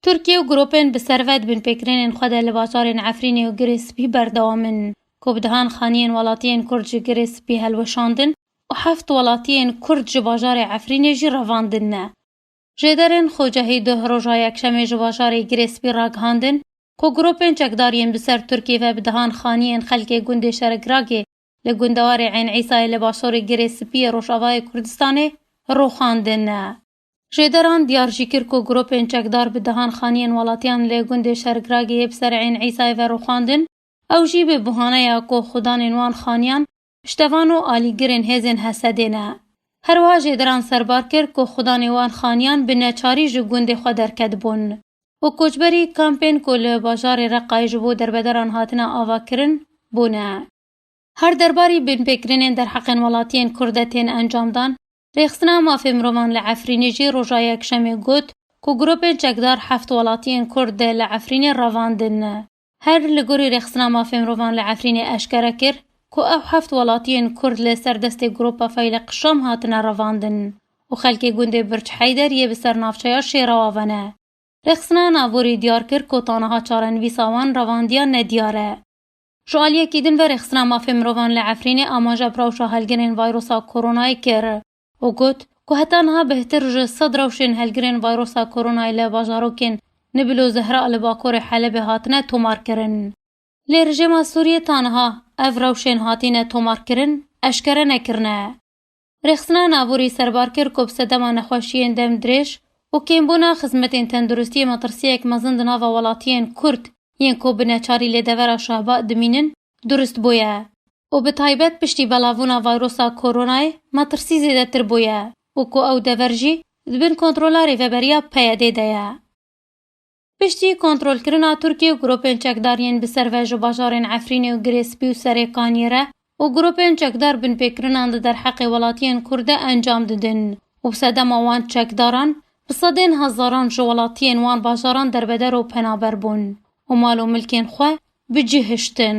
Tirkiye û gropên bi servet bin pêkirênên xwe de li bazarên Efrînê û Girê Spî berdewam in ku bi dehan xaniyên welatiyên Kurd ji Girê Spî hilweşandin û heft welatiyên Kurd ji bajarê Efrînê jî revandin ne. Jêderên Xocehî duh roja Yekşemê ji bajarê Girê Spî ragihandin ku gropên çekdar yên bi ser Tirkiyê ve bi dehan xaniyên xelkê gundê Şeregragê li gundewarê Eyn Îsayê li basorê Girê Spî yê Rojavayê Kurdistanê roxandin ne. Jêderan diyar jî kir ku gropên çekdar bi dehan xaniyên welatiyan li gundê Şergragê yê bi ser Eyn Îsayê ve rûxandin, ew jî bi buhaneya ku xudanên wan xaniyan piştevan û alîgirên hêzên Hesedê ne. Herwiha Jêderan serbar kir ku xudanê wan xaniyan bi neçarî ji gundê xwe derketibûn û koçberî kampên ku li bajarê Reqayê ji bo derbederan hatine avakirin bûne. Her derbarî binpêkirinên derheqên welatiyên Kurd de tên encamdan, Rêxistina Mafê Mirovan li Efrînê jî roja Yekşemê got ku grûpên çekdar heft welatiyên Kurd dê li Efrînê revandin. Her li gorî Rêxistina Mafê Mirovan li Efrînê eşkere kir ku ew heft welatiyên Kurd li ser destê grûpa Feylek Şam hatine revandin û xelkê gundê Birç Heyder yê bi ser navçeya Şêrawave ne. Rêxistina Naborî diyar kir ku ta niha çarenivîsa wan revandiya nediyar e. Ji aliyekî din ve rêxistina mafên mirovan li Efrînê amaja bi rewşa helgirên vayrosa koronayê kir û got ku heta niha bêhtir ji sed rewşên helgirên vayrosa koronayê li bajarokên Nibil û Zehra li bakurê Helebê hatine tomarkirin. Lê rejêma Sûriyê ta niha ev rewşên hatîne tomarkirin eşkere nekirine. Rêxistina Naborî serbar kir ku bi sedema nexweşiyên dem dirêj û kêmbûna xizmetên tenduristiyê metirsiyek mezin di nava welatiyên Kurd yên ku bi neçarî lê devera Şahba dimînin durist bûye û bi taybet piştî belavbûna vayrosa koronayê metirsî zêdetir bûye û ku ew dever jî di bin kontrola Rêveberiya PYD'ê de ye. Piştî kontrolkirina Tirkiye û gropên çekdar yên bi ser ve ji bajarên Efrînê û Girê Spî û Serê Kaniyê re û gropên çekdar binpêkirinan di derheqê welatiyên Kurd de encam didin û bi sedema wan çekdaran bi sedên hezaran ji welatiyên wan bajaran derbeder û penaber bûn û mal û milkên xwe bi cih hiştin.